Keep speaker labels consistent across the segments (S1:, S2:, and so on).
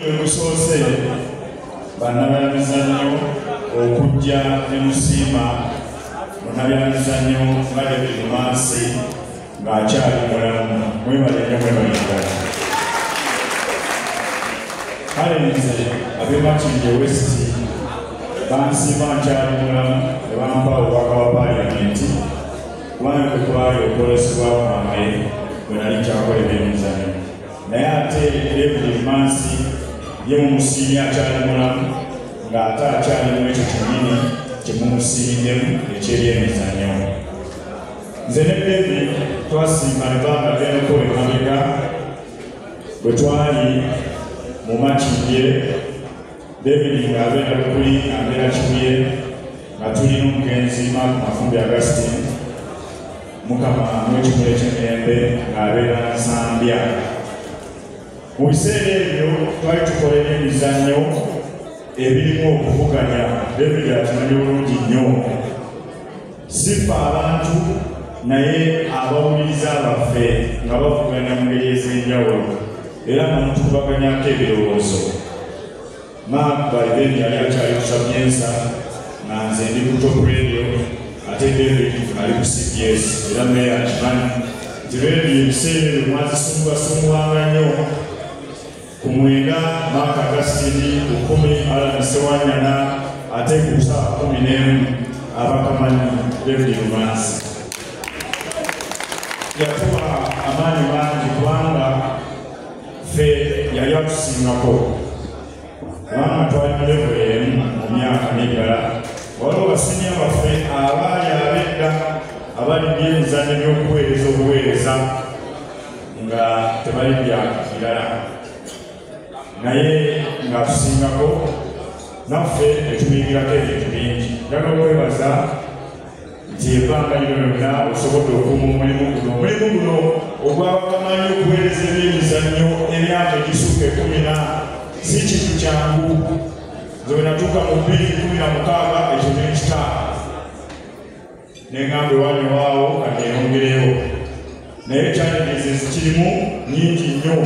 S1: Egusoose bannabyamizannyo okujja ne musiima munnabyamizannyo nga David Mansi ng'akyali mulamu mwebale nnyo mwebalengala kale nze abe Makindye West bansiima nkyali mulamu ne bampa obubaka bwa paaliyamenti kubanga kwe kwali okwolesebwa kwange bwe nali nkyakola ebyemizannyo naye ate ebuli emansi ye mumusiimye akyali mulamu ng'ate akyali mu ekyo kyennyini kye mumusiimiddemu ekyebyemizanyo nze ne bebi twasiima ebbanga lyenoko emabega bwe twali mu makindye David Mugabe Nabukuli abeera Kibuye nga tuli n'omugenzi Mark Mafumbi Augustine mukama n'ekikula eky'emirembe ng'abeera Nsambya. Mu biseera ebyo twali tukola emizannyo ebirimu okuvuganya David akimanyi bulungi nnyo sifa abantu naye abawuliriza baffe nga bavuganya mu ngeri ez'enjawulo era namutukubaganyako ebirowoozo mark biden yali akyali kusabyensa nga nze ndi ku top radio ate david ali ku cbs era meya akimanyi nti radio ebiseera ebyo mwazisumbuwasumbuwanga nnyo ku mwenda Mark Agastini, ku kkumi Alan Sewanyana ate ku kusaba kkumi n'emu abakamanyi David Lumansi. Yatuwa amaanyi mangi kubanga ffe yali atusingako kubanga twali mu levo emu mu myaka n'ebirala waliwo basinya baffe abaali abedda abali byemizanyo by'okuweereza obuweereza nga tebali byaka birala naye nga tusingako naffe etubingirako ebintu bingi njagala okwebaza nti ebbanga lino lyonna osobodde okuuma omulimu guno omulimu guno ogwabakamanyi okuweereza ebyemizannyo emyaka egisukka ekumi na si kintu kyangu nze wenatuuka mu bbiri kumi na mukaaga ekyo nekitaano neŋamba ewanyewaawo kaneyongereyo naye challenges ezikirimu nyingi nnyo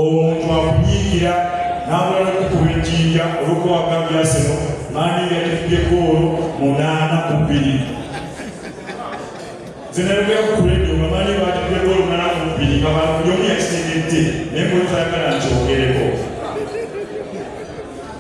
S1: omuntu akunyiigira n'amala okukuba ejjinja olwokuwaga byaseno maani yatudde goolo munaana ku bbiri zinayogera ku kuledio nga maani batudde goolo munaana ku bbiri nga buli omu yakitendedde naye mulutayagala nti ogereko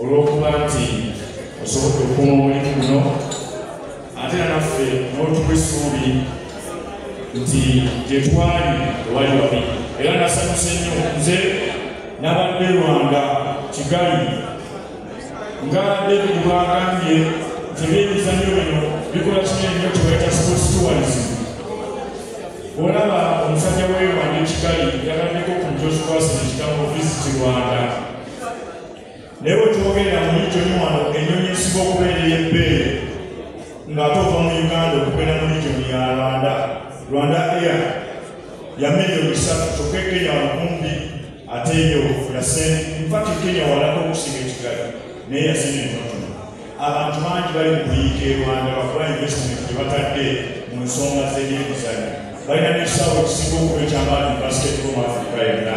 S1: olw'okuba nti osobodde okuuma omulimu guno ate nanaffe n'otuwa essuubi nti gye twali ewali wabi era nasanyuse nnyo nze nabadde lwanga kigali nga david bwagambye nti ebyemizanyo bino bikola kinene nnyo kyebaita sports tourism olaba omusajja weerwanda ekigali yagambeko ku njozikwasina ekigambo visit rwanda naye wetwogerera mu ligyo ni wano enyonyi ezisinga okubeera ey'ebbeeyi ng'ate ova mu uganda okugenda mu ligyo ya rwanda rwanda air ya miliyoni bisatu kyokka ekenya wakumbi ate eyo yasente infakti kenya walako okusinga ekigali naye yasente entonotono abantu bangi bali mu kuyiika e rwanda bakola investment gye batadde mu nsonga z'ebyemizanyo balina n'ekisaawe ekisinga okuba ekyamaani mu basketball mu afrika yonna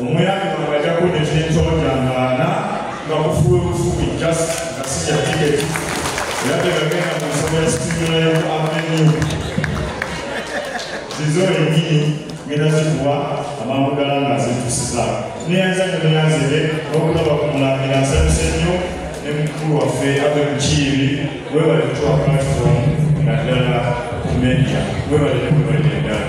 S1: omuyambi wange ajja kuleeta entonja ngaana nga kufuwe bufubi just nga sija tiketi era tegagenda mu nsonga ya sitimula ya avenue zizo enyini ngenda zikuwa amangu gala nga zitusiza neyanza nyo neyanzire n'okulaba ku mulangira nsanyuse nnyo ne mukulu waffe ave mukiibi webale kutuwa platform nga ddala ku media webale ne webale ddala